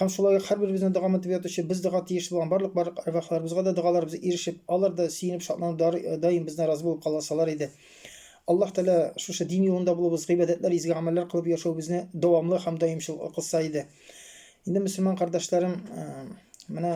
Һәм шулай ук һәрберебезне догамы дип ятучы, без дога тиеш булган барлык барлык әрвахларыбызга да догаларыбыз ирешеп, алар да сөенеп, шатланып дар даим бездән разый булып каласалар иде. Аллаһ Тәгалә шушы дин юлында булуыбыз, гыйбадәтләр, изге гамәлләр кылып яшәүебезне дәвамлы һәм даимчыл кылса иде. Инде мөселман кардәшләрем, менә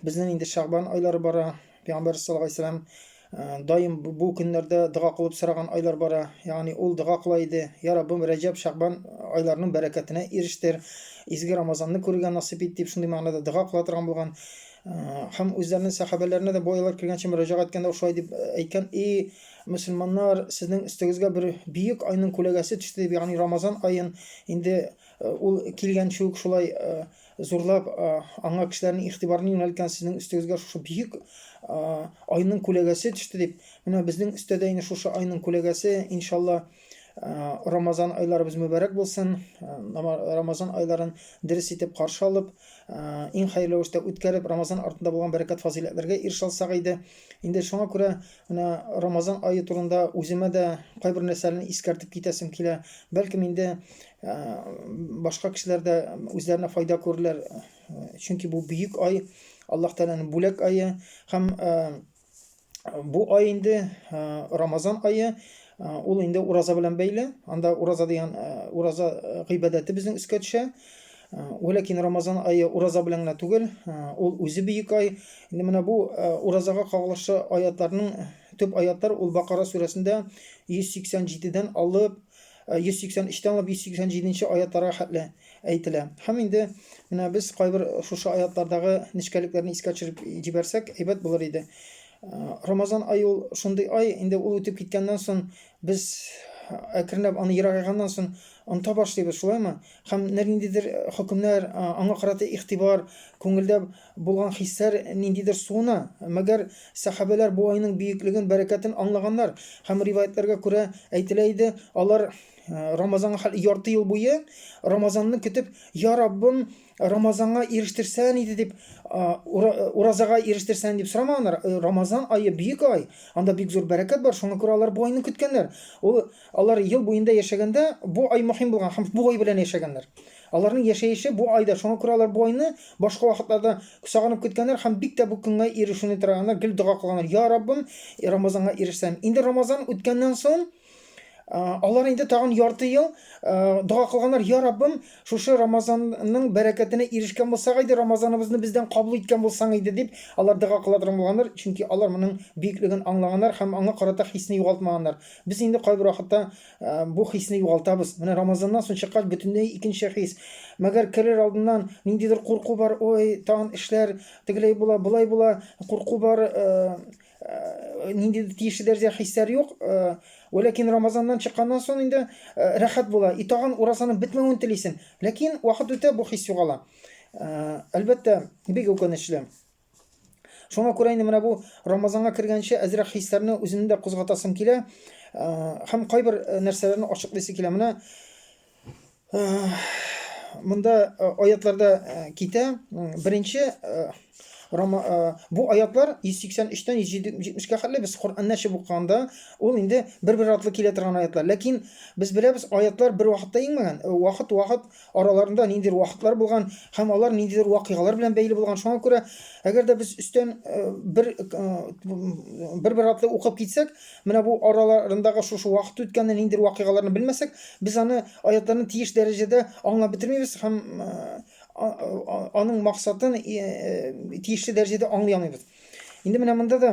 Безнең инде Шәгъбан айлары бара. Пәйгамбәр саллаллаһу алейһи вәсәлләм э, даим бу көннәрдә дога кылып сораган айлар бара. Ягъни ул дога кыла иде. Я Раббым, Рәҗәб, Шәгъбан айларының бәрәкәтенә ирештер. Изге Рамазанны күрергә насыйп ит дип шундый мәгънәдә дога кыла торган булган. Э, һәм үзләренең сәхабәләренә дә бу айлар кергәнче мөрәҗәгать иткәндә шулай дип э, әйткән: "И мөселманнар, сезнең өстегезгә бер бөек айның күләгәсе төште", дип, ягъни Рамазан аен инде ул килгәнче үк шулай зурлап аңа кешеләрнең игътибарын юнәлткән сезнең өстегезгә шушы бөек айның күләгәсе төште дип менә безнең өстә дә инде шушы айның күләгәсе иншалла рамазан айларыбыз мөбәрәк булсын рамазан айларын дөрес итеп каршы алып иң хәерле рәвештә үткәреп рамазан артында булган бәрәкәт фазыйләтләргә ирешә алсак иде инде шуңа күрә менә рамазан ае турында үземә дә кайбер нәрсәләрне искәртеп китәсем килә бәлкем инде Ә, башка кешеләр дә үзләренә файда күрерләр, чөнки бу бөек ай, Аллаһ Тәгаләнең бүләк ае һәм бу ай инде Рамазан ае, ул инде ураза белән бәйле. Анда ураза дигән ураза гыйбадәте безнең өскә төшә. Вәләкин Рамазан ае ураза белән генә түгел, ул үзе бөек ай. Инде менә бу уразага кагылышлы аятларның төп аятлар ул Бакара сүрәсендә 187 дән алып 183 тән алып 187 нче аятларга хәтле әйтелә. Һәм инде менә без кайбер шушы аятлардагы нечкәлекләрне искә төшереп җибәрсәк, әйбәт булыр иде. Рамазан ай ул шундый ай, инде ул үтеп киткәннән соң без әкренләп аны ерагайганнан соң оныта башлыйбыз, шулаймы? Һәм ниндидер хөкемнәр, аңа карата игътибар, күңелдә Булган хисләр ниндидер суына. Мәгәр сәхабәләр бу айның бөеклеген, бәрәкәтен аңлаганнар. Һәм риваятьләргә күрә әйтелә иде, алар Рамазанга хәл ярты ел буе Рамазанны көтеп, Я Раббым, Рамазанга ирештерсән иде дип, уразага ирештерсән дип сорамаганнар. Рамазан ае бөек ай, анда бик зур бәрәкәт бар, шуңа күрә алар бу айны көткәннәр. Ул алар ел буенда яшәгәндә бу ай мөһим булган һәм бу ай белән яшәгәннәр. Аларның яшәеше бу айда, шуңа күрә алар бу айны башка вакытларда сагынып көткәннәр һәм бик тә бу көнгә ирешүне тырыганнар, гел дога кылганнар, Я Раббым, Рамазанга ирешсәм. Инде Рамазан үткәннән соң, алар инде тагын ярты ел дога кылганнар, Я Раббым, шушы Рамазанның бәрәкәтенә ирешкән булсак иде, Рамазаныбызны бездән кабул иткән булсаң иде, дип, алар дога кыла торган булганнар, чөнки алар моның бөеклеген аңлаганнар һәм аңа карата хисне югалтмаганнар. Без инде кайбер вакытта Ә, бу хисне югалтабыз. Менә Рамазаннан соң чыккач бөтенләй икенче хис. Мәгәр керер алдыннан ниндидер курку бар, ой, тагын эшләр тегеләй була, болай була, курку бар, э, э, ниндидер тиешле дәрәҗә хисләр юк. Э, Вәләкин Рамазаннан чыкканнан соң инде э, рәхәт була. И тагын уразаның бетмәвен телисең. Ләкин вакыт үтә, бу хис югала. Э, Әлбәттә, бик үкенечле. Шуңа күрә инде менә бу Рамазанга кергәнче әзрәк хисләрне үземне дә кузгатасым килә һәм кайбер нәрсәләрне ачыклыйсы килә. Менә монда аятларда китә. Беренче бу аятлар 183-тән 170-кә хәтле без Коръәнне ачып укыганда, ул инде бер-бер артлы килә торган аятлар. Ләкин без беләбез, аятлар бер вакытта иңмәгән. Вакыт-вакыт араларында ниндидер вакытлар булган һәм алар ниндидер вакыйгалар белән бәйле булган. Шуңа күрә, әгәр дә без өстән э, бер э, бер-бер атлы укып китсәк, менә бу араларындагы шушы вакыт үткәнне, ниндидер вакыйгаларны белмәсәк, без аны аятларны тиеш дәрәҗәдә аңлап бетермибез һәм э, аның максатын тиешле дәрәҗәдә аңлый алмыйбыз. Инде менә монда да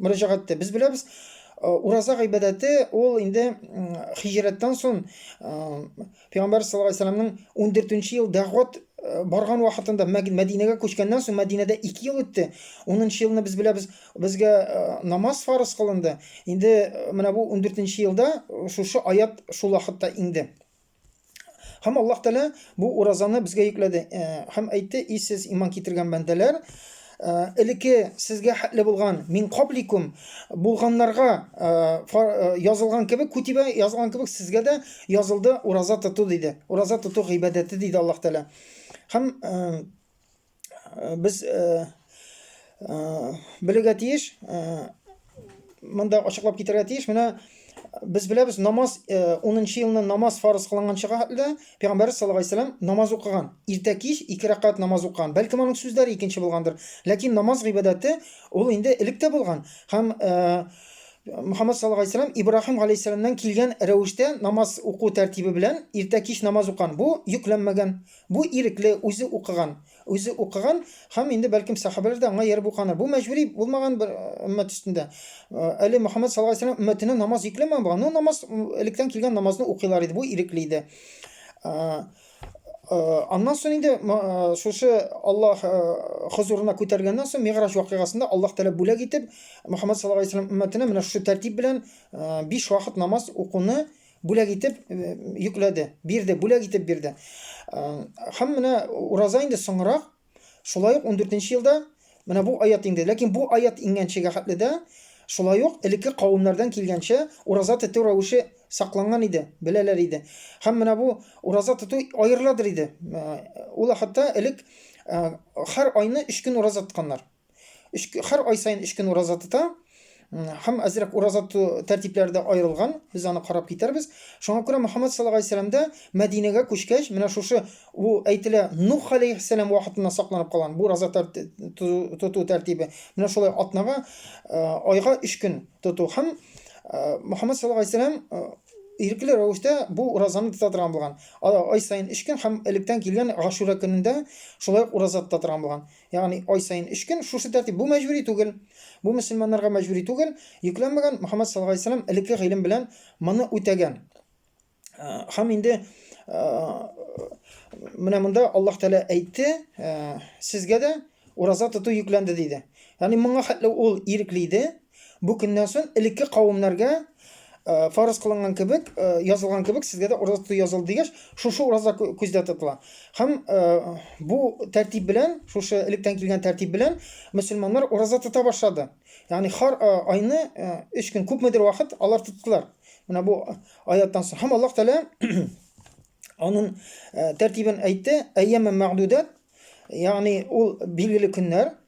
мөрәҗәгатьтә без беләбез, э, ураза гыйбадәте ул инде хиҗрәттән соң э, Пәйгамбәр саллаллаху алейһи вәсәлләмнең 14 ел дәгъват э, барган вакытында Мәдинәгә күчкәннән соң Мәдинәдә 2 ел үтте. 10 елны без беләбез, безгә намаз фарыз кылынды. Инде менә бу 14 елда шушы аят шул вакытта инде. Һәм Аллаһ Тәгалә бу уразаны безгә йөкләде. Э, һәм әйтте, "И сез иман китергән бәндәләр, э, элеке сезгә хәтле булган мин кабликум булганнарга э, язылган кебек, күтибә язылган кебек сезгә дә язылды ураза тоту" диде. Ураза тоту гыйбадәте диде Аллаһ Тәгалә. Һәм Э, без э, э, белергә тиеш, монда ачыклап китерергә тиеш, менә без беләбез, намаз 10-нчы елны намаз фарыз кылынган чага хәтле пәйгамбәр саллаллаһу алейһи вәсәлам намаз укыган. Иртә кич 2 рәкат намаз укыган. Бәлки моның сүзләре икенче булгандыр. Ләкин намаз гыйбадәте ул инде элек тә булган. Һәм Мөхәммәд саллаллаһу алейһи вәсәлам Ибраһим алейһиссәламнан килгән рәвештә намаз уку тәртибе белән иртә кич намаз укан. Бу йөкләнмәгән. Бу ирекле, үзе укыган. Үзе укыган һәм инде, бәлкем, сәхабәләр дә аңа ияреп укыганнар. Бу мәҗбүри булмаган бер өммәт өстендә. Әле Мөхәммәд саллаллаһу галәйһи ва сәлләм өммәтенә намаз йөкләмәгән булган, но намаз электән килгән намазны укыйлар иде, бу ирекле иде. Аннан соң инде шушы Аллаһ хозурына күтәргәннән соң Мигъраҗ вакыйгасында Аллаһ Тәгалә бүләк итеп Мөхәммәд саллаллаһу галәйһи ва сәлләм өммәтенә менә шушы тәртип белән 5 вакыт намаз укуны бүләк итеп йөкләде, бирде, бүләк итеп бирде. Һәм менә ураза инде соңрак, шулай ук 14 елда менә бу аят инде. Ләкин бу аят иңгәнчегә хәтле дә шулай ук элекке кавымнардан килгәнчә ураза тоту рәвеше сакланган иде, беләләр иде. Һәм менә бу ураза тоту аерыладыр иде. Ул хәтта элек һәр айны 3 көн ураза тотканнар. Үч һәр ай саен 3 көн ураза тота. Һәм әзрәк ураза ту тәртипләре дә аерылган. Без аны карап китәрбез. Шуңа күрә Мөхәммәд саллаллаһу алейһи вәсәлләм дә Мәдинәгә күчкәч, менә шушы бу әйтелә Нух алейһи сәлам вакытыннан сакланып калган бу ураза тоту тәртибе. Менә шулай атнага, айга 3 көн тоту һәм Мөхәммәд саллаллаһу алейһи вәсәлләм ирекле рәвештә бу уразаны тота торган булган. Ай саен 3 көн һәм электән килгән Гашура көнендә шулай ураза тота торган булган. Ягъни ай саен өч көн шушы тәртип. Бу мәҗбүри түгел. Бу мөселманнарга мәҗбүри түгел. Йөкләнмәгән Мөхәммәд саллаллаһу галәйһи ва сәлләм элекке гыйлем белән моны үтәгән. Һәм инде менә монда Аллаһ Тәгалә әйтте, сезгә дә ураза тоту йөкләнде диде. Ягъни моңа хәтле ул ирекле иде, Бу көннән сон элекке кавемнәргә фарыз кылынган кебек, язылган кебек, сезгә дә ураза тоту язылды дигәч, шушы ураза күздә тотыла. Һәм бу тәртип белән, шушы электән килгән тәртип белән мөселманнар ураза тота башлады. Ягъни хар айны 3 көн күпмедер вакыт алар тоттылар. Менә бу аяттан соң. Һәм Аллаһ Тәгалә аның тәртибен әйтте, әйяме мәгъдудат, ягъни ул билгеле көннәр,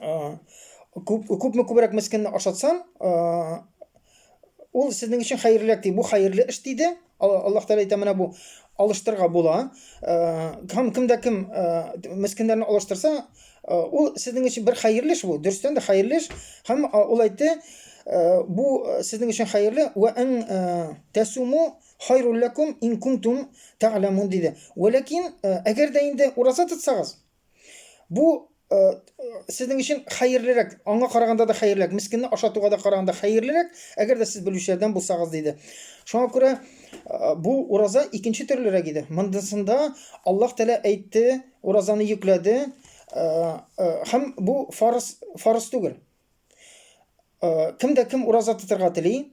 күп күпме күбрәк мескенне ашатсаң ул сезнең өчен хәерлерәк ди бу хәерле эш диде аллаһ тәала әйтә менә бу алыштырырга була һәм кемдә кем мескеннәрне алыштырса ул сезнең өчен бер хәерле эш бу дөрестән дә хәерле эш һәм ул әйтте бу сезнең өчен хәерле вә ан тәсуму хайруллакум ин кунтум тәгъламун диде вәләкин әгәр дә инде ураза тотсагыз Бу э, сезнең өчен хәерлерәк, аңа караганда да хәерлерәк, мискинне ашатуга да караганда хәерлерәк, әгәр дә сез белүчеләрдән булсагыз диде. Шуңа күрә э, бу ураза икенче төрлерәк иде. Мондысында Аллаһ Тәгалә әйтте, уразаны йөкләде, э, э, һәм бу фарыз фарыз түгел. Э, кем дә кем ураза тотарга тели,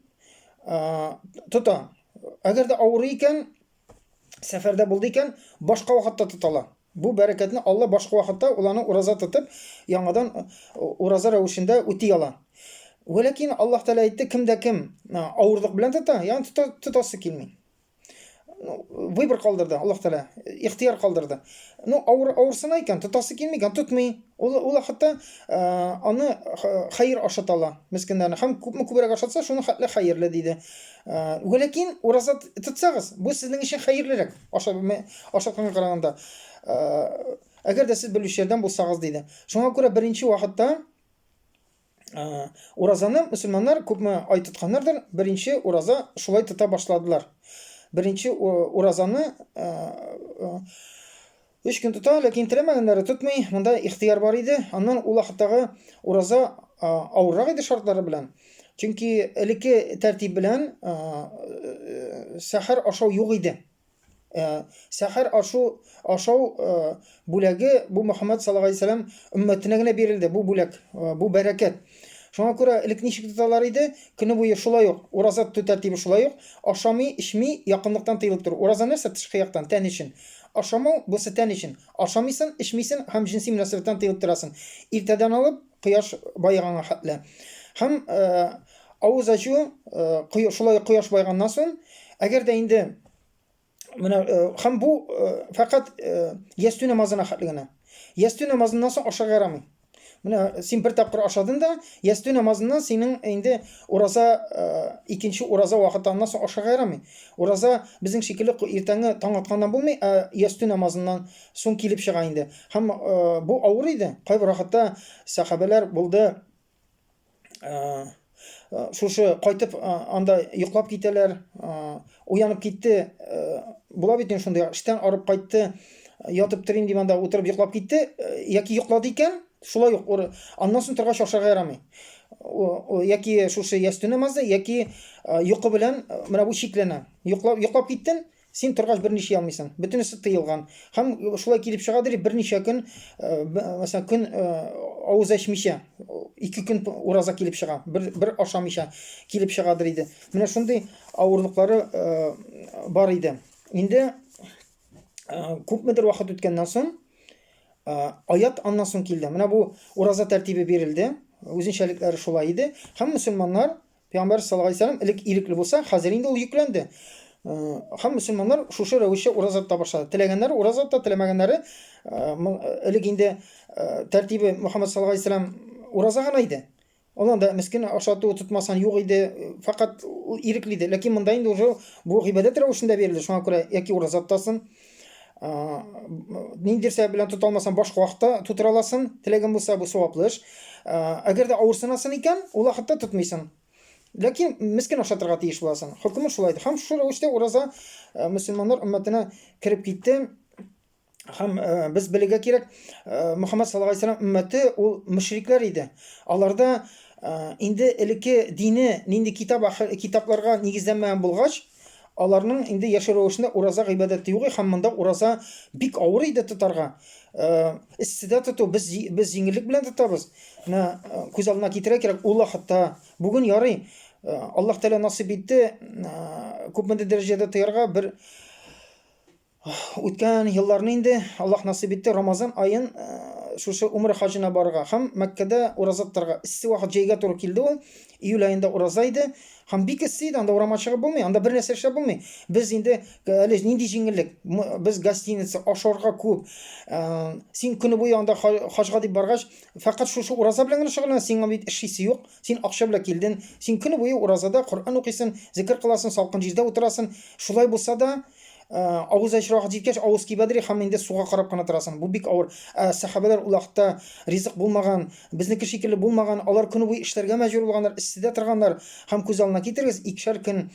э, тота. Әгәр дә авырый икән, сәфәрдә булды икән, башка вакытта тотала. Бу бәрәкәтне Алла башка вакытта ул аны ураза тотып, яңадан ураза рәвешендә үти ала. Вәләкин Аллаһ Тәгалә әйтте, кем дә кем авырлык белән тота, ягъни тота, тотасы килми. Ну, выбор калдырды Аллаһ Тәгалә, ихтияр калдырды. Ну, авыр авырсына икән, тотасы килми икән, тотмый. Ул ул хәтта аны хәер ашата ала мескеннәрне. Һәм күпме күбрәк ашатса, шуның хәтле хәерле диде. Вәләкин ураза тотсагыз, бу сезнең өчен хәерлерәк. Аша белмәй, аша көнгә караганда. Әгәр дә сез белүчеләрдән булсагыз диде. Шуңа күрә беренче вакытта уразаны мөселманнар күпме ай тотканнардыр, беренче ураза шулай тота башладылар. Беренче уразаны Өч көн тота, ләкин теләмәгәннәре тотмый, монда ихтыяр бар иде. Аннан ул вакыттагы ураза авыррак иде шартлары белән. Чөнки элекке тәртип белән сәхәр ашау юк иде. Сәхәр ашу ашау бүләге бу Мөхәммәд саллаллаһу алейһи ва сәлләм өммәтенә генә бирелде. Бу бүләк, бу бәрәкәт. Шуңа күрә элек ничек тоталар иде, көне буе шулай ук, ураза тоту тәртибе шулай ук, ашамый, эчми, якынлыктан тыелып тору. Ураза нәрсә? Тышкы яктан, тән өчен. Ашамау, бусы тән өчен. Ашамыйсын, эчмисен һәм җенси мөнәсәбәттән тыелып торасың. Иртәдән алып, кояш баеганга хәтле. Һәм авыз ачу, шулай ук кояш баеганнан соң, әгәр дә инде Менә һәм бу фәкать ястү намазына хәтле генә. Ястү намазыннан соң ашарга ярамый. Менә син бер тапкыр ашадың да, ястү намазыннан синең инде ураза икенче ураза вакытыннан соң ашарга ярамый. Ураза безнең шикелле иртәнге таң атканнан булмый, ә ястү намазыннан соң килеп чыга инде. Һәм бу авыр иде. Кайбер вакытта сахабәләр булды, шушы кайтып анда йоклап китәләр уянып китте була бит инде шундый эштән арып кайтты ятып торыйм дип анда утырып йоклап китте яки йоклады икән шулай ук аннан соң торгач ашарга ярамый яки шушы ястү намазы яки йокы белән менә бу чикләнә йоклап йоклап киттен Син торгач бер ниши алмыйсың. Бөтенесе тыелган. Хәм шулай килеп чыга дип берничә көн, мәсәлән, көн авыз ачмыйча, ике көн ураза килеп чыга. Бер бер ашамыйча килеп чыга диде. Менә шундый авырлыклары бар иде. Инде күпмедер вакыт үткәннән соң аят аннан соң килде. Менә бу ураза тәртибе бирелде. Үзенчәлекләре шулай иде. Хәм мусламаннар Пәйгамбәр саллаллаһу алейһи вәсәлләм элек ирекле булса, хәзер инде ул йөкләнде. Һәм мөселманнар шушы рәвешчә ураза тота башлады. Теләгәннәре ураза тота, теләмәгәннәре элек инде тәртибе Мөхәммәд саллаллаһу алейһи вәсәлләм ураза гына иде. Алар да мискин ашату тотмасан юк иде, фәкать ирекле иде. Ләкин монда инде уже бу гыйбадәт рәвешендә бирелде. Шуңа күрә яки ураза тотасың, ниндидер сәбәп белән тота алмасаң башка вакытта тутыра аласың теләгең булса бу саваплы эш әгәр дә авыр сынасың икән ул вакытта тотмыйсың ләкин мескен ашатырга тиеш буласың хөкеме шулай һәм шул рәвештә ураза мөселманнар өммәтенә кереп китте һәм без белергә кирәк мөхәммәд саллаллаху алейхи вәсәләм өммәте ул мөшрикләр иде аларда инде элекке дине нинди китап китапларга нигезләнмәгән булгач Аларның инде яшәү рәвешендә ураза гыйбадәте юк һәм монда ураза бик авыр иде тотарга. Эсседә тоту без без җиңеллек белән тотабыз. Менә күз алдына китерә кирәк, ул вакытта бүген ярый Аллаһ Тәгалә насыйп итте, күпмедер дәрәҗәдә тоярга бер Үткән елларны инде Аллаһ насыйп итте, Рамазан аен шушы Умра хаҗына барырга һәм Мәккәдә ураза тотарга. Эссе вакыт җәйгә туры килде ул. Июль аенда ураза иде. Һәм бик эссе иде, анда урамга чыгып булмый, анда бер нәрсә эшләп булмый. Без инде әле нинди җиңеллек? Без гостиница, ашарга күп. Син көне буе анда хаҗга дип баргач, фәкать шушы ураза белән генә шөгыльлән, сиңа бит эшлисе юк. Син акча белән килден. Син көне буе уразада Коръән укыйсың, зикер кыласың, салкын җирдә утырасың. Шулай булса да, авыз ачырга хәт җиткәч авыз кибәдер һәм инде суга карап кына торасың бу бик авыр сәхабәләр ул вакытта ризык булмаган безнеке шикелле булмаган алар көне буе эшләргә мәҗбүр булганнар эсседә торганнар һәм күз алдына китерегез икешәр көн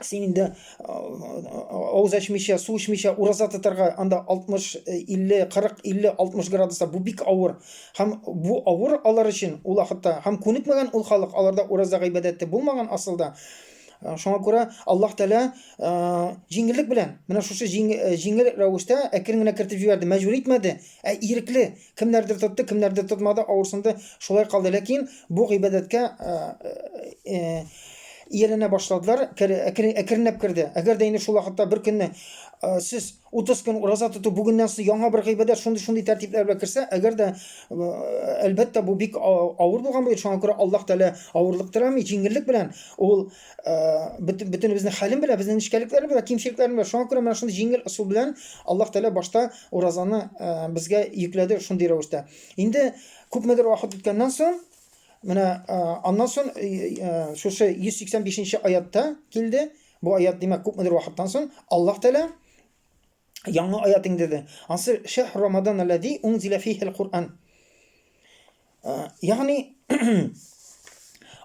син инде авыз ачмыйча су эчмичә ураза тотарга анда 60 50 40 50 60 градуста бу бик авыр һәм бу авыр алар өчен ул вакытта һәм күнекмәгән ул халык аларда ураза гыйбадәте булмаган асылда Э, шуңа күрә Аллаһ Тәгалә э, җиңеллек белән менә шушы э, җиңел рәвештә әкрен генә кертеп җибәрде, мәҗбүр итмәде, ә ирекле. Кемнәрдер тотты, кемнәрдер тотмады, авырсынды, шулай калды. Ләкин бу гыйбадәткә ияләнә башладылар, әкренләп керде. Әгәр дә инде шул вакытта бер көнне сез 30 көн ураза тоту бүгеннән соң яңа бер гыйбадәт шундый-шундый тәртипләр белән керсә, әгәр дә әлбәттә бу бик авыр булган бит, шуңа күрә Аллаһ Тәгалә авырлык теләми, җиңеллек белән ул бөтенебезнең хәлен белә, безнең нечкәлекләрне белә, кимчелекләрне белә. Шуңа күрә менә шундый җиңел ысул белән Аллаһ Тәгалә башта уразаны безгә йөкләде шундый рәвештә. Инде күпмедер вакыт үткәннән соң Менә аннан соң шушы 185 нче аятта килде, Бу аят, димәк, күпмедер вакыттан соң Аллаһ Тәгалә яңа аят иңдерде. Ансы шәһр Рамадан аллази унзила фихил Кур'ан. Э, ягъни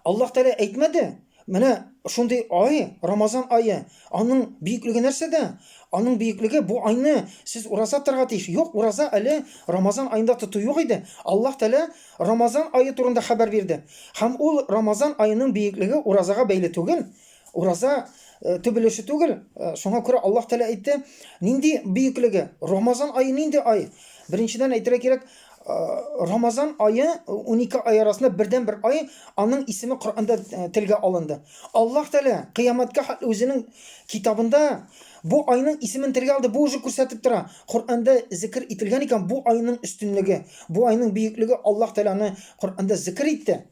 Аллаһ Тәгалә әйтмәде, менә шундый ай, Рамазан айы, аның бөеклеге нәрсәдә? Аның бөеклеге бу айны сез ураза торга тиеш. Юк, ураза әле Рамазан айында тоту юк иде. Аллаһ Тәгалә Рамазан айы турында хәбәр бирде. Һәм ул Рамазан айының бөеклеге уразага бәйле түгел. Ураза төп өлеше түгел. Шуңа күрә Аллаһ Тәгалә әйтте, нинди бөеклеге? Рамазан ае нинди ай? Беренчедән әйтергә кирәк, Рамазан айы 12 ай арасында бердән бер ай, аның исеме Коръәндә телгә алынды. Аллаһ Тәгалә кыямәткә хәтле үзенең китабында бу айның исемен телгә алды. Бу уже күрсәтеп тора. Коръәндә зикр ителгән икән, бу айның өстенлеге, бу айның бөеклеге Аллаһ Тәгаләне Коръәндә зикр итте.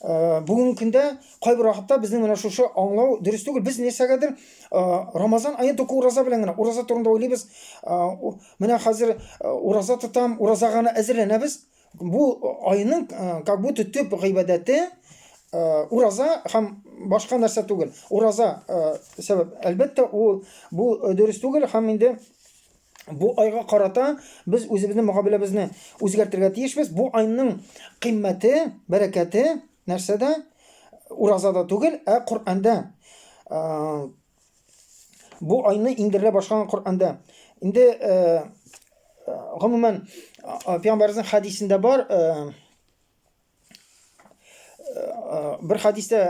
Э, бүгінгі күндө кайбір уақытта біздің мына шушы аңлау дөрес түгел біз нәрсәгәдер э, рамазан айы только ураза белән генә ураза турында уйлыйбыз э, менә хәзер ураза тотам ураза гына әзерләнәбез бу айның как будто төп гыйбадәте ураза һәм башка нәрсә түгел ураза сәбәп әлбәттә ул бу дөрес түгел һәм инде Бу айга карата без үзебезнең мөгамәләбезне үзгәртергә тиешбез. Бу айның кыйммәте, бәрәкәте нәрсәдә? Уразада түгел, ә Коръәндә. Бу айны иңдерелә башлаган Коръәндә. Инде гомумән пәйгамбәрнең хәдисендә бар, бер хадистә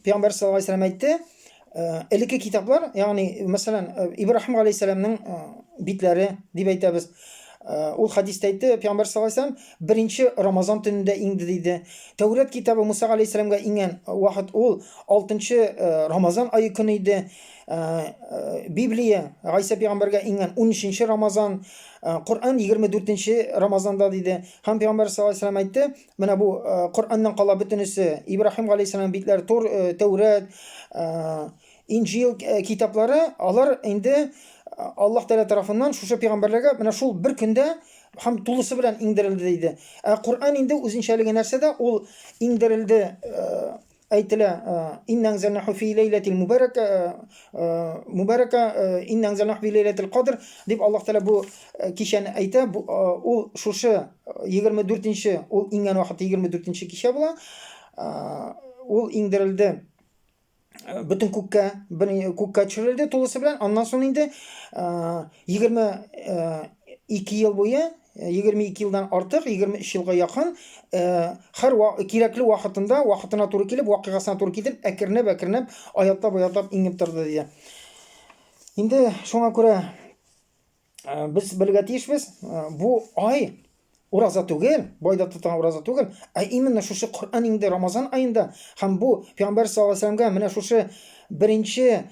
пәйгамбәр саллаллаху алейһи ва әйтте элекке китаплар ягъни мәсәлән ибраһим галәйһиссәламнең битләре дип әйтәбез ул хадистә әйтте пәйгамбәр саллаллаху алейһи ва беренче рамазан төнендә иңде диде тәүрәт китабы муса галәйһиссәламгә иңгән вакыт ул алтынчы рамазан ае көне иде библия гайсә пәйгамбәргә иңгән унөченче рамазан коръән егерме дүртенче рамазанда диде Һәм Пәйгамбәр саллаллаху алейһи вәсәлләм әйтте, менә бу э, Коръәннән кала бөтенесе, Ибраһим галәйһиссәлам битләре, Тур, э, Тәүрәт, э, Инҗил китаплары, алар инде Аллаһ Тәгалә тарафыннан шушы пәйгамбәрләргә менә шул бер көндә һәм тулысы белән иңдерелде диде. Ә Коръән инде үзенчәлеге нәрсәдә? Ул иңдерелде Әйтелә, Инна анзалнаху фи ләйләтил мубаракә, мубаракә, инна анзалнаху фи ләйләтил кадр, дип Аллаһ Тәгалә бу кичәне әйтә. Бу ул шушы 24-нче, ул иңгән вакыты 24-нче кичә була. Ул иңдерелде бөтен күккә, күккә төшерелде тулысы белән. Аннан соң инде 22 ел буе 22 елдан артык, 23 елга якын, хәр ва, кирәкле вакытында, вакытына туры килеп, вакыйгасына туры килеп, әкренәп, әкренәп, аятлап, аятлап иңеп торды диде. Инде шуңа күрә без белергә тиешбез, бу ай ураза түгел, байда тотылган ураза түгел, ә именно шушы Коръән инде Рамазан аенда һәм бу Пәйгамбәр саллаллаһу алейһи ва сәлләмгә менә шушы Беренче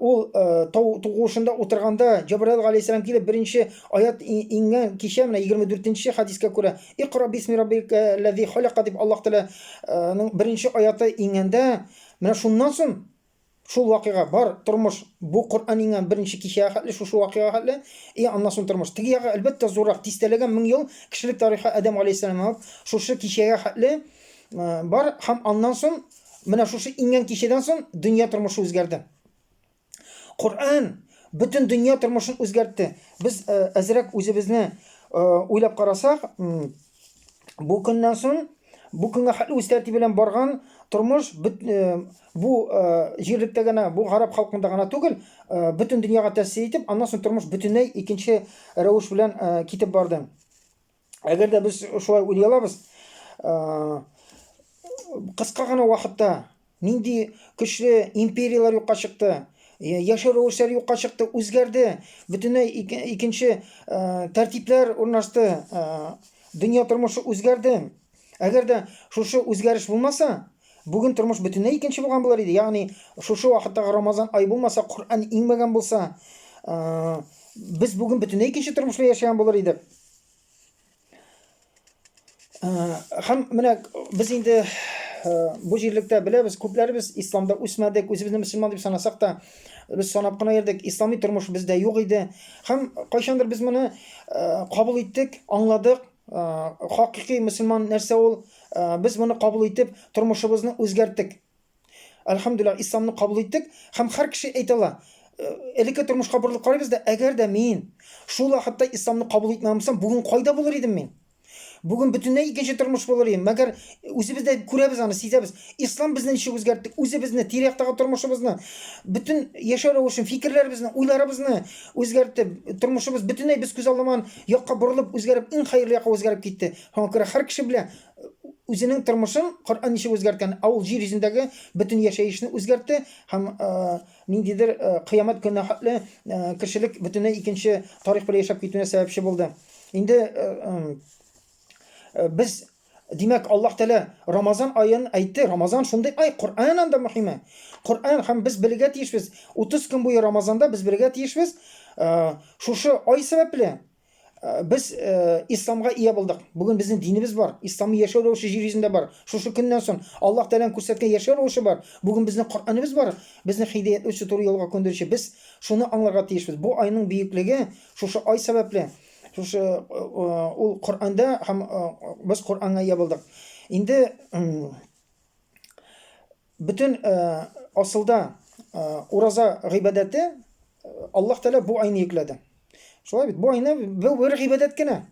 ул тау тугушында утырганда Җабраил галәйһиссәлам килеп беренче аят иңгән кичә менә 24-нче хадискә күрә Икра бисми раббикаллази халака дип Аллаһ Тәгаләнең беренче аяты иңгәндә менә шуннан соң шул вакыйга бар тормыш бу Коръән иңгән беренче кичәгә хәтле шушы вакыйга хәтле и аннан соң тормыш теге ягы әлбәттә зуррак дистәләгән мең ел кешелек тарихы Адәм галәйһиссәламнән алып шушы кичәгә хәтле бар һәм аннан соң Менә шушы иңгән кичәдән соң дөнья тормышы үзгәрде. Коръән бөтен дөнья тормышын үзгәртте. Без э, әзрәк үзебезне э, уйлап карасак, бу көннән соң бу көнгә хәтле үз тәртибе белән барган тормыш э, бу җирлектә генә, бу гарәп халкында гына түгел, бөтен дөньяга тәэсир итеп, аннан соң тормыш бөтенләй икенче рәвеш белән китеп барды. Әгәр дә без шулай уйлый алабыз, кыска гына вакытта нинди көчле империяләр юкка чыкты, яшәү рәвешләре юкка чыкты, үзгәрде, бөтенләй икенче тәртипләр урнашты, дөнья тормышы үзгәрде. Әгәр дә шушы үзгәреш булмаса, бүген тормыш бөтенләй икенче булган булыр иде. Ягъни, шушы вакыттагы Рамазан ай булмаса, Коръән иңмәгән булса, без бүген бөтенләй икенче тормышта яшәгән булыр идек. Хәм менә без инде бу җирлектә беләбез, күпләребез исламда үсмәдек, үзебезне мөселман дип санасак та, без санап кына йөрдек, ислами тормыш бездә юк иде. Хәм кайчандыр без моны кабул иттек, аңладык, хакыйкый мөселман нәрсә ул? Без моны кабул итеп, тормышыбызны үзгәрттек. Әлхәмдүлилла, исламны кабул иттек һәм һәр кеше әйтә ала. Элекке тормышка борылып карыйбыз да, әгәр дә мин шул вакытта исламны кабул итмәгән булсам, бүген кайда булыр идем мин? Бүген бөтенләй икенче тормыш булыр идем. Мәгәр үзебез дә күрәбез аны, сизәбез. Ислам безне ничек үзгәртте? Үзебезне, тирәктәге тормышыбызны, бөтен яшәү рәвешен, фикерләребезне, уйларыбызны, үзгәртеп, тормышыбыз бөтенләй без күз алмаган якка борылып, үзгәреп, иң хәерле якка үзгәреп китте. Шуңа күрә һәр кеше белә үзенең тормышын Коръән ничек үзгәрткән, ә ул җир йөзендәге бөтен яшәешне үзгәртте һәм ниндидер кыямәт көненә хәтле кешелек бөтенләй икенче тарих белән яшәп китүенә сәбәпче булды. Инде без Димәк, Аллаһ Тәгалә Рамазан аен әйтте. Рамазан шундый ай, Коръән анда мөһиме. Коръән һәм без белергә тиешбез. 30 көн буе Рамазанда без белергә тиешбез. Шушы ай сәбәпле без исламга ия булдык. Бүген безнең динебез бар, исламны яшәү рәвеше җир йөзендә бар. Шушы көннән соң Аллаһ Тәгаләнең күрсәткән яшәү рәвеше бар. Бүген безнең Коръәнебез бар, безне хидаятләүче, туры юлга күндерүче. Без шуны аңларга тиешбез. Бу айның бөеклеге шушы ай сәбәпле. Шушы ул Коранда һәм без Коранга ия булдык. Инде бөтен асылда ураза гыйбадәте Аллаһ Тәгалә бу айны йөкләде. Шулай бит, бу айны бу бер гыйбадәт кенә.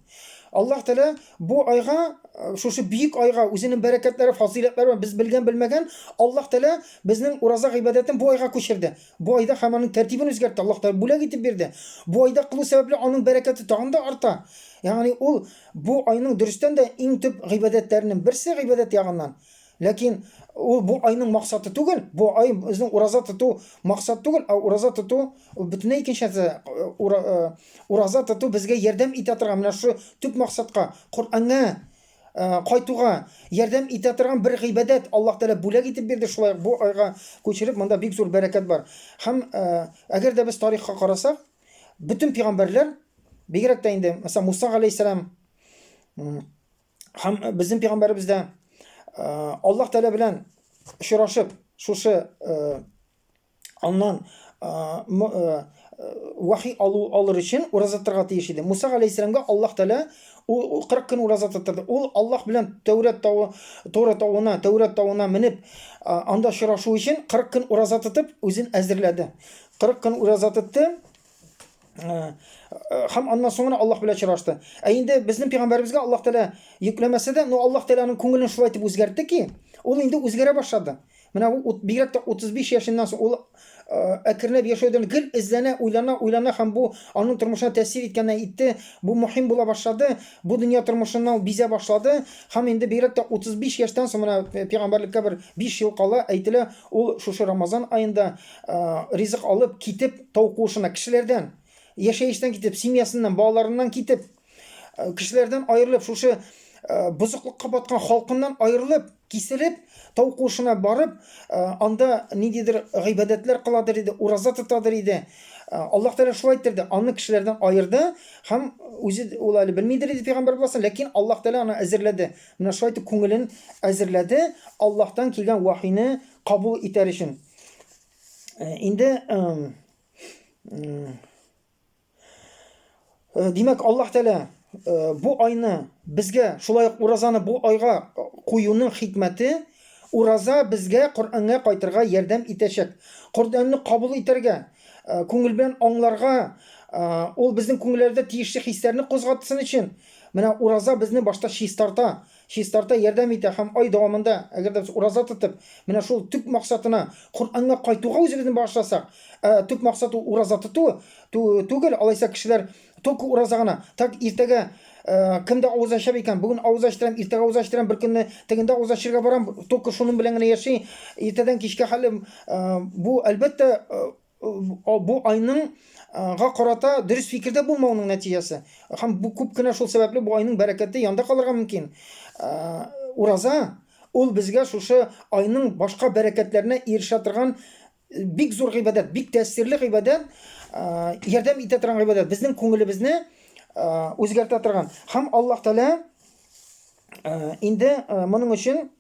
Аллаһ Тәгалә бу айга, шушы бөек айга үзенең бәрәкәтләре, фазыйләтләре без белгән-белмәгән Аллаһ Тәгалә безнең ураза гыйбадәтен бу айга күчерде. Бу айда һәм аның тәртибен үзгәртте. Аллаһ Тәгалә бүләк итеп бирде. Бу айда кылу сәбәпле аның бәрәкәте тагын да арта. Ягъни ул бу айның дөрестән дә иң төп гыйбадәтләренең берсе гыйбадәт ягыннан. Ләкин ул бу айның максаты түгел. Бу ай безнең ураза тоту максат түгел, а ураза тоту ул бөтенләй икенче нәрсә. Э, э, ураза тоту безгә ярдәм итә торган менә шушы төп максатка, Коръәнгә кайтуга ярдәм итә торган бер гыйбадәт Аллаһ Тәгалә бүләк итеп бирде, шулай ук бу айга күчереп монда бик зур бәрәкәт бар. Һәм әгәр дә без тарихка карасак, бөтен пигамбәрләр, бигрәк тә инде, мәсәлән, Муса галәйһиссәлам һәм безнең пигамбәребез дә Аллаһ Тәгалә белән очрашып, шушы аннан вахи алу алыр өчен ураза торырга тиеш иде. Муса галәйһиссәламгә Аллаһ Тәгалә 40 көн ураза тотырды. Ул Аллаһ белән Тәүрәт тавы, Тора тавына, Тәүрәт тавына менеп, анда очрашу өчен 40 көн ураза тотып, үзен әзерләде. 40 көн ураза тотты. һәм аннан соң гына Аллаһ белән очрашты. Ә инде безнең пәйгамбәребезгә Аллаһ Тәгалә йөкләмәсә дә, но Аллаһ Тәгаләнең күңелен шулай итеп үзгәртте ки, ул инде үзгәрә башлады. Менә ул бигрәк тә 35 яшеннән соң ул әкренләп яшәүдән гел эзләнә, уйлана, уйлана һәм бу аның тормышына тәэсир иткәннән итте, бу мөһим була башлады, бу дөнья тормышыннан бизә башлады һәм инде бигрәк тә 35 яшьтән соң менә пәйгамбәрлеккә бер 5 ел кала, әйтелә, ул шушы Рамазан аенда ризык алып китеп тау куышына кешеләрдән яшәештән китеп семьясыннан балаларыннан китеп кешеләрдән аерылып шушы бозыклыкка баткан халкыннан аерылып киселеп тау куышына барып анда ниндидер гыйбадәтләр кыладыр иде ураза тотадыр иде аллаһ тәала шулай иттерде аны кешеләрдән аерды һәм үзе ул әле белмидер иде пәйгамбәр буласын ләкин аллаһ тәала аны әзерләде менә шулай итеп күңелен әзерләде аллаһтан килгән вахины кабул итәр өчен Э, инде Э, димәк аллаһ тәлә э, бу айны безгә шулай ук уразаны бу айга куюның хикмәте ураза безгә коръәнгә кайтырга ярдәм итәчәк коръәнне кабул итәргә э, күңел белән аңларга ул безнең күңелләрдә тиешле хисләрне кузгатсын өчен менә ураза безне башта чистарта Чистарта, ярдәм итә һәм ай дәвамында, әгәр дә без ураза тотып, менә шул төп максатына, Коръәнгә кайтуга үзебезне багышласак, ә төп максат ул ураза тоту ту түгел, алайса кешеләр только ураза гына, так, иртәгә кем дә авыз ача икән, бүген авыз ачтырам, иртәгә авыз ачтырам, бер көнне тегендә авыз ачырга барам, только шуның белән генә яши, иртәдән кичкә хәлем, бу, әлбәттә, бу айның га карата дөрес фикердә булмауның нәтиҗәсе. Һәм бу күп кенә шул сәбәпле бу айның бәрәкәте янда калырга мөмкин. Ураза ул безгә шушы айның башка бәрәкәтләренә ирешә торган бик зур гыйбадәт, бик тәэсирле гыйбадәт, ярдәм итә торган гыйбадәт, безнең күңелебезне үзгәртә торган. Һәм Аллаһ Тәгалә инде моның өчен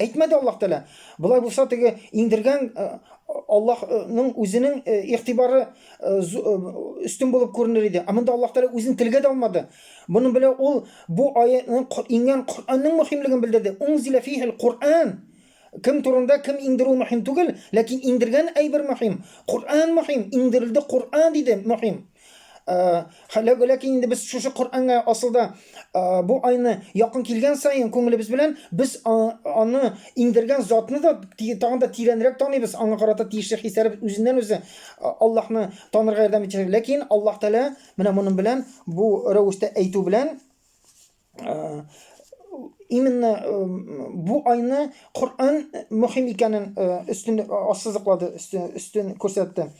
Әйтмәде Аллаһ Тәгалә. Болай булса, теге иңдергән Аллаһның үзенең игътибары өстен булып күренер иде. Ә монда Аллаһ Тәгалә үзен телгә дә алмады. Моның белән ул бу аятның иңгән Коръәннең мөһимлеген белдерде. Унзилә фихил Коръән. Кем турында кем иңдерү мөһим түгел, ләкин иңдергән әйбер мөһим. Коръән мөһим, иңдерелде Коръән диде мөһим. Халәк ләкин инде без шушы Коръәнгә асылда бу айны якын килгән саен күңелебез белән без аны иңдергән затны да тагын да тирәнрәк таныйбыз, аңа карата тиешле хисләребез үзеннән үзе Аллаһны танырга ярдәм итәчәк. Ләкин Аллаһ Тәгалә менә моның белән бу рәвештә әйтү белән именно бу айны Коръән мөһим икәнен өстен ассызыклады, өстен, өстен күрсәтте.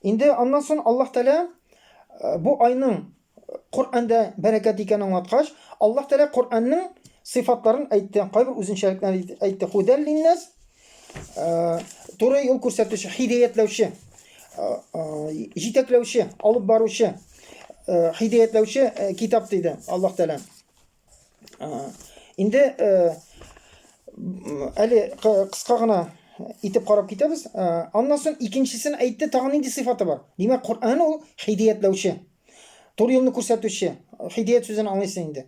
Инде аннан соң Аллаһ Тәгалә бу айның Коръәндә бәрәкәт икәнен аңлаткач, Аллаһ Тәгалә Коръәннең сыйфатларын әйтте, кайбер үзенчәлекләрен әйтте. Худәл линнәс, Э, туры юл күрсәтүче, хидәятләүче, э, э, җитәкләүче, алып баручы, хидәятләүче китап диде Аллаһ Тәгалә. Инде әле кыска гына итеп карап китәбез. Аннан соң икенчесен әйтте, тагын нинди сыйфаты бар? Димәк, Коръән ул хидәятләүче, туры юлны күрсәтүче. Хидәят сүзен аңлыйсың инде.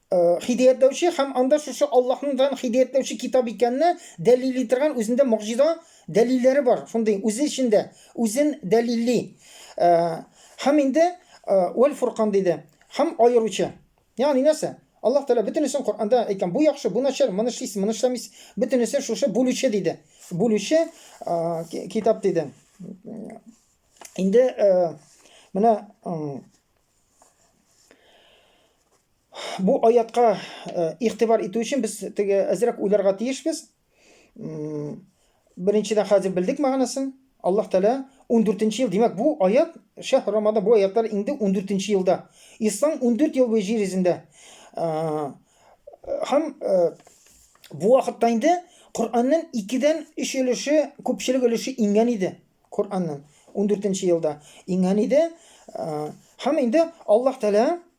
Э, хидәятләүче һәм анда шушы Аллаһның дан хидәятләүче китап икәнне дәлилли торган үзендә мөгъҗиза дәлилләре бар. Шундый үзе эчендә үзен дәлилли. Э, һәм инде э, вәл фуркан диде. Һәм аеручы. Ягъни нәрсә? Аллаһ Тәгалә бөтенесен Коръәндә әйткән. Бу яхшы, бу начар, моны эшлисез, моны эшләмисез. Бөтенесе шушы бүлүче диде. Бүлүче китап диде. Инде менә Бу аятка э, игътибар итү өчен без теге әзрәк уйларга тиешбез. Беренчедән хәзер белдек мәгънәсен. Аллаһ Тәгалә 14 ел, димәк, бу аят шәһ Рамада бу аятлар инде 14 елда. Ислам 14 ел буе җир йөзендә. Э, һәм э, бу вакытта инде Кор'анның 2-дән 3 өлеше, күпчелек өлеше иңгән иде. Кор'анның 14 елда иңгән иде. Һәм инде Аллаһ Тәгалә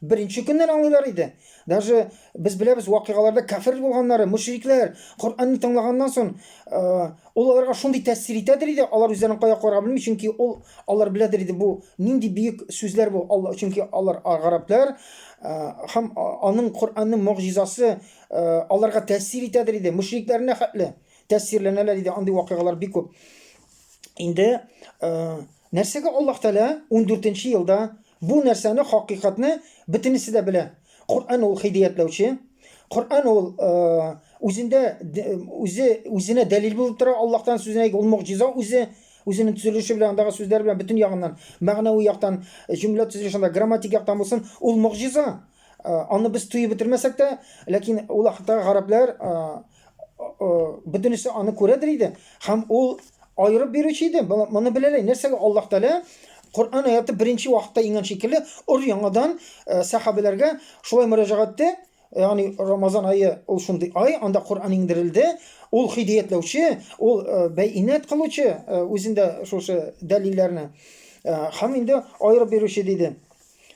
Беренче көннән аңлыйлар иде. Даже без беләбез вакыйгаларда кафир булганнары, мөшрикләр, Коръәнне тыңлаганнан соң, ул аларга шундый тәэсир итәдер иде, алар үзләрен кая куярга белми, чөнки ул алар беләдер иде бу нинди бөек сүзләр бу, Алла, чөнки алар гарәпләр һәм аның Коръәннең мөгъҗизасы аларга тәэсир итәдер иде, мөшрикләренә хәтле тәэсирләнәләр иде, андый вакыйгалар бик күп. Инде нәрсәгә Аллаһ Тәгалә 14 елда Бу нәрсәне, хакыйкатьне бөтенесе дә белә. Коръән ул хидиятләүче. Коръән ул үзендә үзе үзенә дәлил булып тора. Аллаһтан сүзенә ул мугҗиза үзе үзенең төзелеше белән, андагы сүзләр белән бөтен ягыннан, мәгънәви яктан, җөмлә төзелешендә, грамматик яктан булсын, ул мугҗиза. Аны без туеп бетермәсәк тә, ләкин ул хакта гарәпләр бөтенесе аны күрәдер иде һәм ул аерып бирүче иде моны беләләй нәрсәгә аллаһ тәлә коръән аяты беренче вакытта иңгән шикелле өр яңадан э, сәхабәләргә шулай мөрәҗәгать итте ягъни рамазан айы ул шундый ай анда коръән иңдерелде ул хидиятләүче ул э, бәйнәт кылучы э, үзендә шушы дәлилләрне һәм инде аерып бирүче диде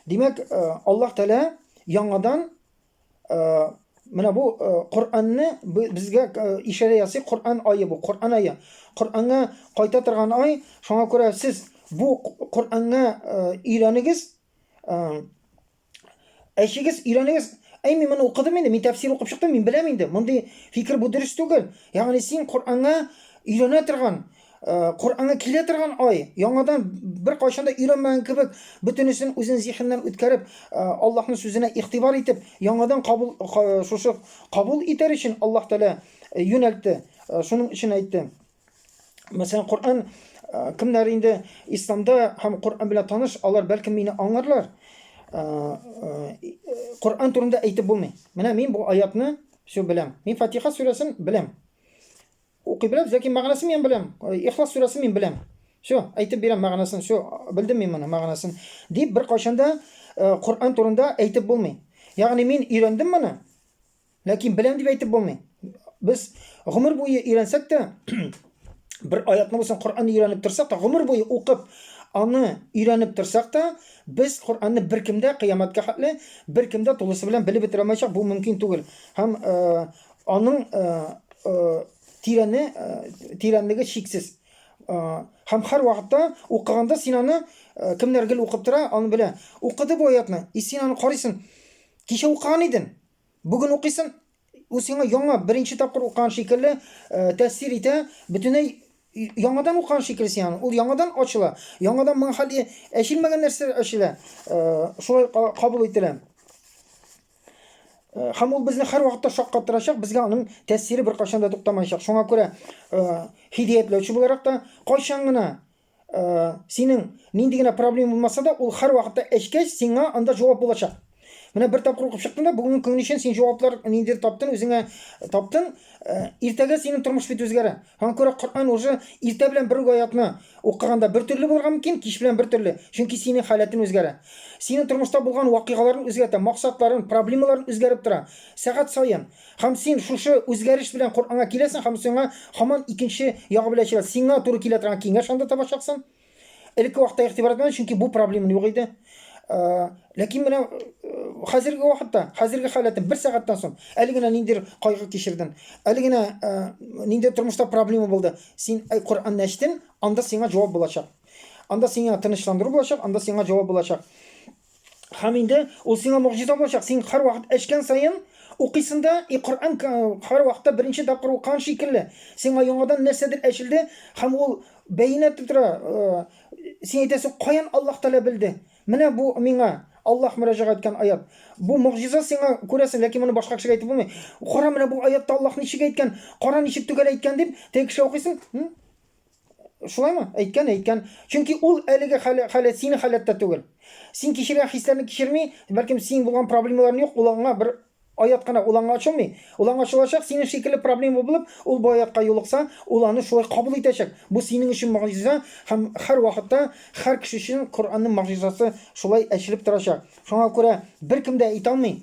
димәк аллаһ тәлә яңадан Менә бу Коръәнне безгә ишарә ясый, Коръән айы бу, Коръән айы. Коръәнгә кайта торган ай, шуңа күрә сез бу Коръәнгә өйрәнегез, әчегез, өйрәнегез. Әй, мин моны укыдым инде, мин тәфсир укып чыктым, мин беләм инде. Мондый фикер бу дөрес түгел. Ягъни син Коръәнгә өйрәнә торган, Э, Коръәнгә килә торган ай, яңадан бер кайчан да өйрәнмәгән кебек, бөтенесен үзен зихеннән үткәреп, э, Аллаһның сүзенә игътибар итеп, яңадан кабул шушы кабул итәр өчен Аллаһ Тәгалә э, юнәлтте. Э, шуның өчен әйтте. Мәсәлән, Коръән э, кемнәр инде исламда һәм Коръән белән таныш, алар бәлки мине аңларлар. Коръән турында әйтеп булмый. Менә мин бу аятны все беләм. Мин Фатиха сүрәсен беләм. Укый беләм, ләкин мәгънәсен мин беләм. Ихлас сүрәсен мин беләм. Все, әйтеп бирәм мәгънәсен, все, белдем мин моны мәгънәсен. Дип бер кайчанда э, Коръән турында әйтеп булмый. Ягъни мин өйрәндем моны, ләкин беләм дип әйтеп булмый. Без гомер буе өйрәнсәк тә, бер аятны булсын Коръәнне өйрәнеп торсак та, гомер буе укып, аны өйрәнеп торсак та, без Коръәнне беркемдә кыямәткә хәтле беркемдә тулысы белән белеп бетерә алмаячак, бу мөмкин түгел. Һәм э, Аның тирәне, тирәнлеге чиксез. Һәм һәр вакытта укыганда син аны кемнәр гел укып тора, аны белә. Укыды бу аятны, и син аны карыйсың. Кичә укыган идең, бүген укыйсың, ул сиңа яңа беренче тапкыр укыган шикелле тәэсир итә, бөтенләй яңадан укыган шикелле син аны. Ул яңадан ачыла, яңадан моңа хәле әчелмәгән нәрсәләр ачыла, шулай кабул ителә. Э, һәм ул безне һәрвакытта шаккатырачак, безгә аның тәэсире беркайчан да туктамаячак. Шуңа күрә э, хидаятләүче буларак та кайчан гына э, синең нинди генә проблема булмаса да, ул һәрвакытта эчкәч сиңа анда җавап булачак. Менә бер тапкыр укып чыктың да, бүгенге көн өчен син җаваплар ниндидер таптың, үзеңә таптың. Иртәгә синең тормыш бит үзгәрә. Аңа күрә Коръән уже иртә белән бер үк аятны укыганда бер төрле булырга мөмкин, кич белән бер төрле, чөнки синең халәтең үзгәрә. Синең тормышта булган вакыйгаларың үзгәртә, максатларың, проблемаларың үзгәреп тора, сәгать саен. Һәм син шушы үзгәреш белән Коръәнгә киләсең һәм сиңа һаман икенче ягы белән ачыла, сиңа туры килә торган киңәш анда табачаксың. Элекке вакытта игътибар итмәде, чөнки бу проблема юк иде. Э, ләкин менә э, хәзерге вакытта, хәзерге халәтем бер сәгатьтән соң, әле генә ниндер кайгы кичердем, әле генә э, ниндер тормышта проблема булды. Син әй Коръәнне ачтың, анда сиңа җавап булачак. Анда сиңа тынычландыру булачак, анда сиңа җавап булачак. Һәм инде ул сиңа могҗиза булачак. Син һәрвакыт эчкән саен укыйсың да, и Коръән һәрвакытта беренче тапкыр укыган шикелле. Сиңа яңадан нәрсәдер әчелде һәм ул бәйнә итеп тора. Син әйтәсең, каян Аллаһ Тәгалә белде? Менә бу миңа Аллаһ мөрәҗәгать иткән аят. Бу могҗиза сиңа күрәсең, ләкин моны башка кешегә әйтеп булмый. Кара, менә бу аятта Аллаһ ничек әйткән, кара ничек төгәл әйткән дип, теге кешегә укыйсың, Шулаймы? Әйткән, әйткән. Чөнки ул әлеге хәле, хәле синең халәттә түгел. Син кичергән хисләрне кичерми, бәлкем синең булган проблемаларың юк, ул аңа бер аят кына, ул аңа ачылмый. Ул аңа ачылачак, синең шикелле проблема булып, ул бу аятка юлыкса, ул аны шулай кабул итәчәк. Бу синең өчен могҗиза һәм һәр вакытта һәр кеше өчен Коръәннең могҗизасы шулай ачылып торачак. Шуңа күрә беркем дә әйтә алмый,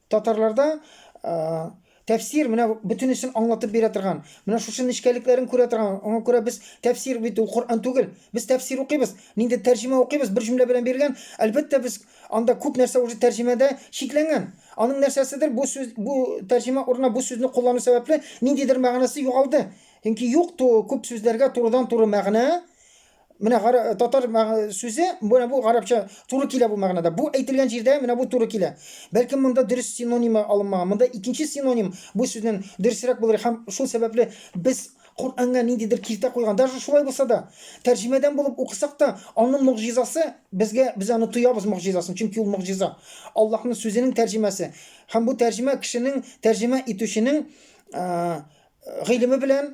Татарларда тәфсир менә бөтенесен аңлатып бирә торган, менә шушы нечкәлекләрен күрә торган. Аңа күрә без тәфсир бит ул Коръән түгел. Без тәфсир укыйбыз, нинди тәрҗемә укыйбыз, бер җөмлә белән бирелгән. Әлбәттә, без анда күп нәрсә уже тәрҗемәдә чикләнгән. Аның нәрсәседер бу сүз, бу тәрҗемә урынына бу сүзне куллану сәбәпле ниндидер мәгънәсе югалды. Чөнки юк ту күп сүзләргә турыдан-туры мәгънә, Менә гара- татар мәг- сүзе, менә бу гарәпчә туры килә бу мәгънәдә. Бу әйтелгән җирдә менә бу туры килә. Бәлки монда дөрес синонимы алынмаган. Монда икенче синоним бу сүзнен дөресрәк булыр һәм шул сәбәпле без Коръәнгә ниндидер киртә куйган. Даже шулай булса да, тәрҗемәдән булып укысак та, аның могҗизасы безгә без аны тоябыз могҗизасын, чөнки ул могҗиза. Аллаһның сүзенең тәрҗемәсе. Һәм бу тәрҗемә кешенең, тәрҗемә итүченең э, гыйлеме белән,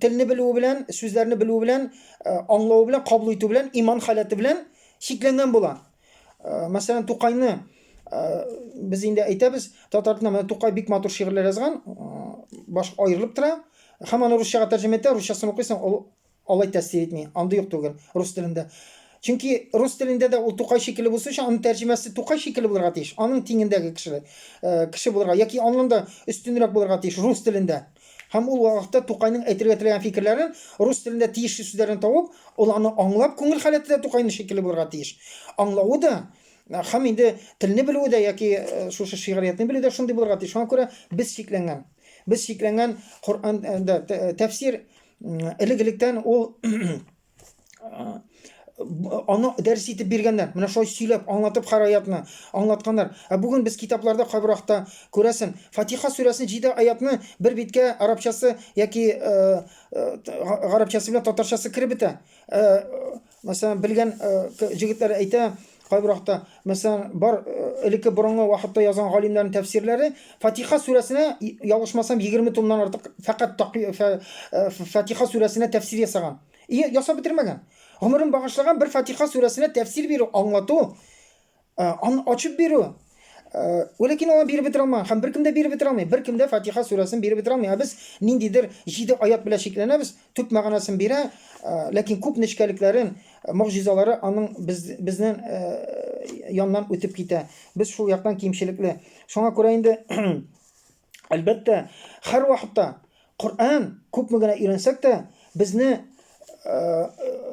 телне белүе белән, сүзләрне белүе белән, аңлавы белән, кабул итү белән, иман халәте белән чикләнгән була. Мәсәлән, Тукайны без инде әйтәбез, татар телендә менә Тукай бик матур шигырьләр язган, баш аерылып тора. Һәм аны русчага тәрҗемә итә, русчасын укыйсың, ул Алай тәэсир итми, андый ук түгел, рус телендә. Чөнки рус телендә дә ул Тукай шикелле булсын өчен, аның тәрҗемәсе Тукай шикелле булырга тиеш, аның тиңендәге кеше, э, кеше булырга яки аннан да өстенрәк булырга тиеш рус телендә. Һәм ул вакытта Тукайның әйтергә теләгән фикерләрен, рус телендә тиешле сүзләрен табып, ул аны аңлап, күңел халәте дә Тукайның шикелле булырга тиеш. Аңлавы да һәм инде телне белүе дә яки э, шушы шигъриятне белүе дә шундый булырга тиеш. Шуңа күрә без шикләнгән. Без шикләнгән Коръәндә э, тәфсир элек-электән ул аны дәрес итеп биргәннәр менә шулай сөйләп аңлатып һәр аятны аңлатканнар ә бүгін без китапларда кайбер акта күрәсең фатиха сүрәсен җиде аятны бер биткә арабчасы яки гарабчасы белән татарчасы кереп бетә Мәсәлән, белгән җегетләр әйтә, кайбер вакытта, мәсәлән, бар элекке борынгы вакытта язган галимнәрнең тәфсирләре Фатиха сүрәсенә ялгышмасам 20 томнан артык фәкать Фатиха сүрәсенә тәфсир ясаган. И ясап бетермәгән. Гомерен багышлаган бер Фатиха сүрәсенә тәфсир бирү, аңлату Э, аны ачып бирү Вәләкин аңа биреп бетерә алмаган һәм беркем дә биреп бетерә алмый. Беркем дә Фатиха сүрәсен биреп бетерә алмый. Ә без ниндидер җиде аят белән чикләнәбез, төп мәгънәсен бирә, ләкин күп нечкәлекләрен, могҗизалары аның без, безнең яннан үтеп китә. Без шул яктан кимчелекле. Шуңа күрә инде Әлбәттә, һәрвакытта Коръән күпме генә өйрәнсәк тә, безне э,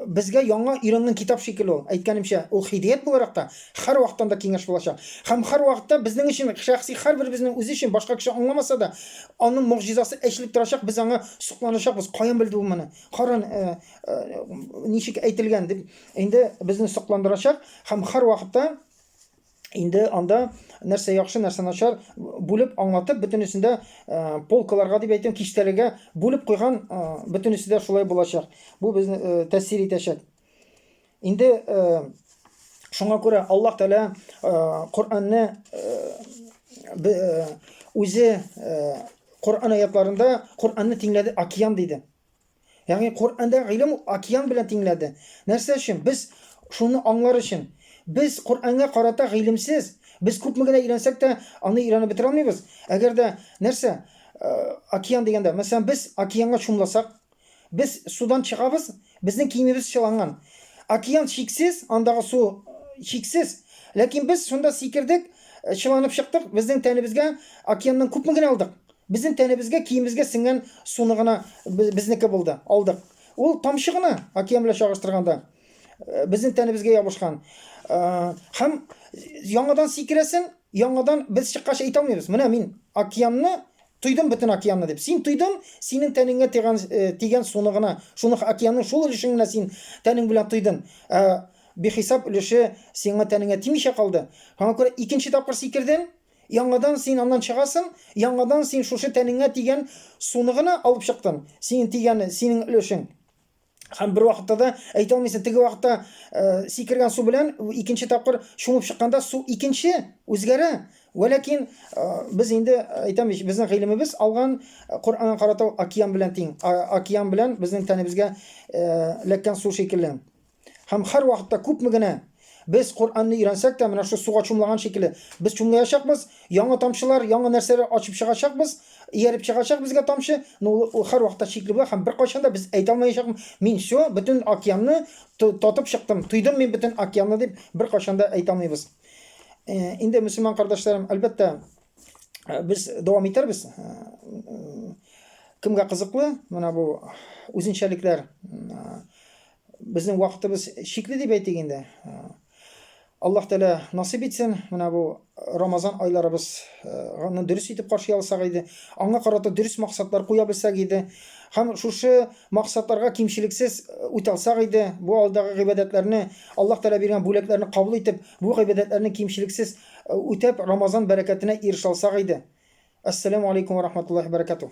безгә яңа өйрәнгән китап шикелле ул. Әйткәнемчә, ул хидият буларак та һәрвакытта да киңәш булачак. Һәм һәрвакытта безнең өчен шәхси һәрберебезнең үзе өчен башка кеше аңламаса да, аның могҗизасы эшлеп торачак, без аңа сокланачакбыз. Каян белде ул моны? Кара э, э, ничек әйтелгән дип инде безне сокландырачак һәм һәрвакытта Инде анда нәрсә яхшы, нәрсә начар бүлеп аңлатып, бөтенесен дә э, полкаларга дип әйтәм, киштәләргә бүлеп куйган, э, бөтенесе дә шулай булачак. Бу безне э, тәэсир итәчәк. Инде шуңа күрә Аллаһ Тәгалә Коръәнне үзе Коръән аятларында Коръәнне тиңләде океан диде. Ягъни Коръәндә гыйлем ул океан белән тиңләде. Нәрсә өчен? Без шуны аңлар өчен. Без Коръәнгә карата гыйлемсез, без күпме генә өйрәнсәк тә, аны өйрәнеп бетерә алмыйбыз. Әгәр дә нәрсә, океан дигәндә, мәсәлән, без океанга чумласак, без судан чыгабыз, безнең киемебез чыланган. Океан чиксез, андагы су чиксез, ләкин без шунда сикердек, чыланып чыктык, безнең тәнебезгә океаннан күпме генә алдык? Безнең тәнебезгә, киемебезгә сеңгән суны гына безнеке булды, алдык. Ул тамчы гына, океан белән чагыштырганда, безнең тәнебезгә ябышкан. Һәм яңадан сикерәсең, яңадан без чыккач әйтә алмыйбыз. Менә мин океанны тойдым, бөтен океанны дип. Син тойдың, синең тәнеңгә тигән, тигән суны гына, шуны океанның шул өлешен генә син тәнең белән тойдың. Бихисап өлеше сиңа тәнеңә тимичә калды. Аңа күрә икенче тапкыр сикердең, Яңадан син аннан чыгасың, яңадан син шушы тәнеңә тигән суны гына алып чыктың, синең тигәне, синең өлешең. Һәм бер вакытта да әйтә алмыйсың, теге вакытта э, сикергән су белән икенче тапкыр чумып чыкканда су икенче үзгәрә. Вәләкин э, без инде э, әйтәм бит, безнең гыйлемебез алган э, Коръәнгә карата океан белән тиң, океан белән безнең тәнебезгә эләккән су шикелле. Һәм һәрвакытта күпме генә без Коръәнне өйрәнсәк тә, менә шул суга чумлаган шикелле, без чумлаячакбыз, яңа тамчылар, яңа нәрсәләр ачып чыгачакбыз, ияреп чыгачак безгә тамчы, но ул һәрвакытта чикле була һәм беркайчан да без әйтә алмаячакбыз, мин всё, бөтен океанны татып чыктым, тойдым мин бөтен океанны дип беркайчан да әйтә алмыйбыз. Инде мөселман кардәшләрем, әлбәттә, без дәвам итәрбез. Кемгә кызыклы менә бу үзенчәлекләр, Безнең вакытыбыз чикле дип әйтик инде. Аллаһ Тәгалә насыйп итсен, менә бу Рамазан айларыбыз аны дөрес итеп каршы алсак иде, аңа карата дөрес максатлар куя белсәк иде, һәм шушы максатларга кимчелексез үтә алсак иде, бу алдагы гыйбадәтләрне, Аллаһ Тәгалә биргән бүләкләрне кабул итеп, бу гыйбадәтләрне кимчелексез үтәп, Рамазан бәрәкәтенә ирешә алсак иде. Ассаламу алейкум ва рахматуллахи ва баракатуһ.